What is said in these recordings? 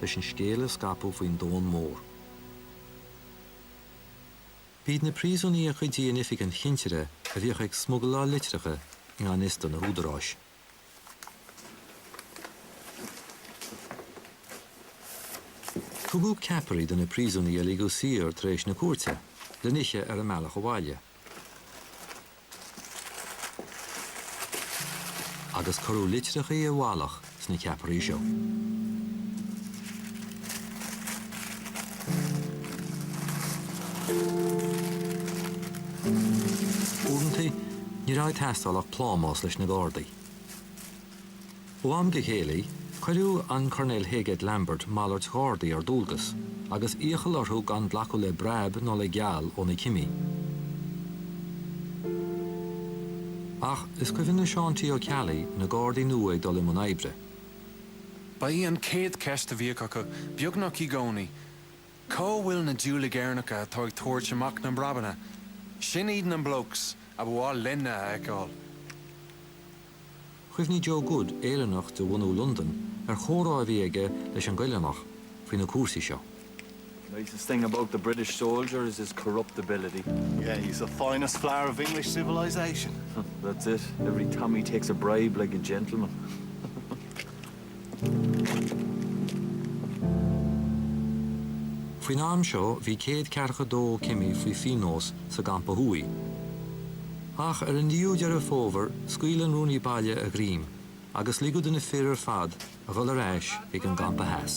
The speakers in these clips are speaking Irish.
leis an scéal a scaipeadh faoin domhan mór. B'iad na príosúnaigh a chuidíodh in oifig an chinsire a bhíodh ag smugláil litreacha i ngan fhios do na húdaráis. Tugadh ceapairí do na príosúnaigh a ligeadh saor tar éis na cúirte, le n-ithe ar a mbealach abhaile. agus cuireadh litreacha i bhfalach sna ceapairí seo. Uaireanta, ní raibh ag teastáil ach plámás leis na Gardaí. Ó am go chéile, chuireadh an Coirnéal Heygate Lambert malairt gardaí ar dualgas, agus iachall orthu gan glacadh le breab ná le geall ó na cimí. Ach is cuimhin le Seán T. Ó Ceallaigh na gardaí nua ag dul i mbun oibre. Ba í an chéad cheist a bhíodh acu, beagnach i gcónaí, 'Cá bhfuil na diúlaigh Éireannacha atá ag tabhairt amach na mbreabanna? Sin iad na blokes a ba mhaith linne a fheiceáil. Chuimhnigh Joe Good, Éireannach de bhunadh Londain, ar chomhrá a bhí aige leis an gCoileánach faoi na cúrsaí seo. The nicest thing about the British soldier is his corruptibility. Yeah, he's the finest flower of English civilisation. That's it, every Tommy takes a bribe like a gentleman. Faoin am seo bhí céad ceathracha dó cimí faoi phionós sa gCampa Thuaidh. Ach ar an 9ú Deireadh Fómhair scaoil an Rúnaí Baile a ghreim agus ligeadh do na fir ar fad a dhul ar ais chuig an gCampa Theas.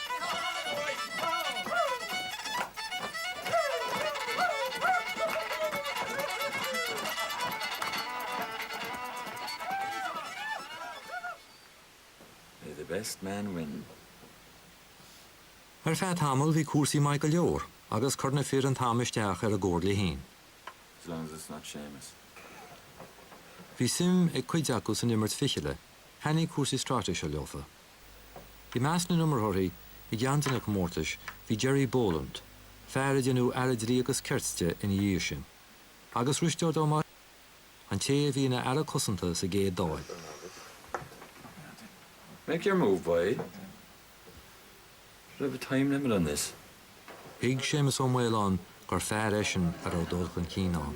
May the best man win. Ar feadh tamaill bhí cúrsaí maith go leor agus chuir na fir an t-am isteach ar a gcomhairle fhéin. As long as it's not Seamus. Bhí suim ag cuid acu san imirt fichille, thaitnigh cúrsaí stráitéise leofa. I measc na n-iomaitheoirí i gceann de na comórtais bhí Gerry Boland, fear a déanadh Aire Dlí agus Cirt de ina dhiaidh sin, agus Risteard Ó Maolchatha, an té a bhí ina Aire Cosanta sa gcéad Dáil. Make your move, boy! We should have a time limit on this. Thuig Séamus Ó Maoileoin gur fear eisean a raibh dul chun cinn ann.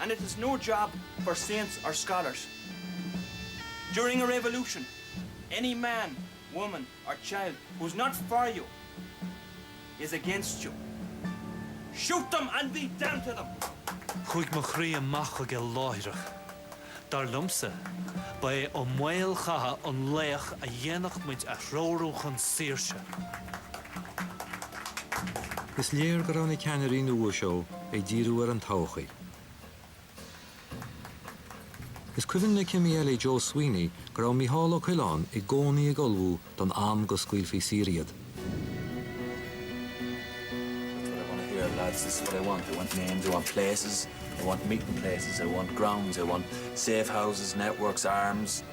and it is no job for saints or scholars during a revolution any man, woman or child who is not for you is against you shoot them and be damned to them! Chuaigh mo chroí amach chuige láithreach. Dar liomsa, ba é Ó Maolchatha an laoch a dhéanfadh muid a threorú chun saoirse. Is léir go raibh na ceannairí nua seo ag díriú ar an todhchaí. Is cuimhin le cime eile Joe Sweeney go raibh Micheál Ó Coileáin i gcónaí ag ullmhú don am go scaoilfí saor iad.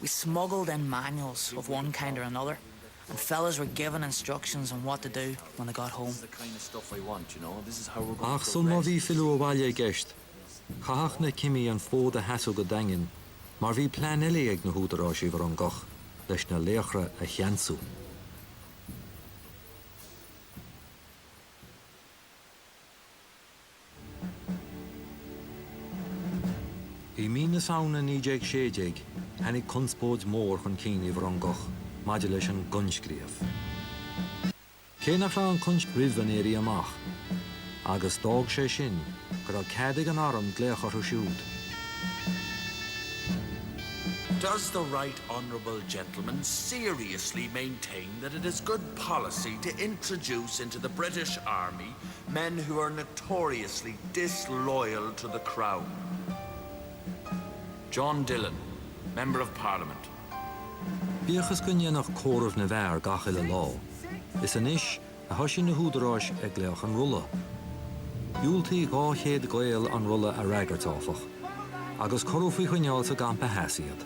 We smuggled in manuals of one kind or another and fellas were given instructions on what to do when they got home. Ach sul má bhí filleadh abhaile i gceist, chaithfeadh na cimí an fód a sheasamh go daingean mar bhí plean eile ag na húdaráis i bhFrongoch leis na laochra a cheansú. I mí na Samhna 1916, tháinig conspóid mhór chun cinn i bhFrongoch maidir leis an gcoinscríobh. Cé nach raibh an coinscríobh roimh an Éirí Amach, agus d'fhág sé sin go raibh cead ag an arm glaoch orthu siúd, Does the right honourable gentleman seriously maintain that it is good policy to introduce into the British Army Men who are notoriously disloyal to the Crown. John Dillon, Member of Parliament. Bíodh is go ndéanfaí comhaireamh na bhfear gach uile lá, is anois a thoisigh na húdaráis ag glaoch an rolla. Dhiúltaigh 200 Gael an rolla a fhreagairt, áfach, agus cuireadh faoi choinneáil sa gcampa theas iad.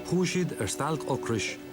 Chuaigh siad ar stailc ocrais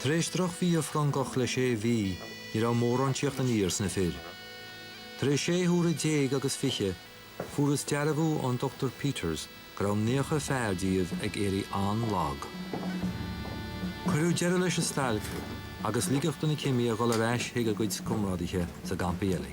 Tar éis drochbhia Frongoch le sé mhí, ní raibh mórán tíocht aniar sna fir. Tar éis sé huaire déag agus fiche, fuarthas dearbhú ón Dr Peters go raibh naocha fear díobh ag éirí an-lag. Cuireadh deireadh leis an stailc agus ligeadh do na cimí a dhul ar ais chuig a gcuid comrádaithe sa gcampa eile.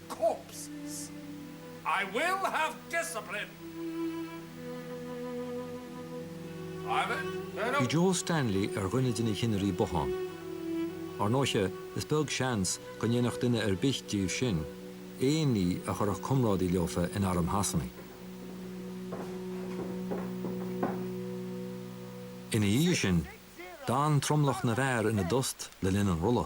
corpses. I will have discipline. Bhí Joe Stanley ar dhuine de na cinnirí bothán. Ar ndóiche, is beag seans go ndéanfadh duine ar bith díobh sin aon ní a chuirfeadh comrádaí leofa in arm Shasana. Ina dhiaidh sin, d'fhan tromlach na bhfear ina dtost le linn an rolla.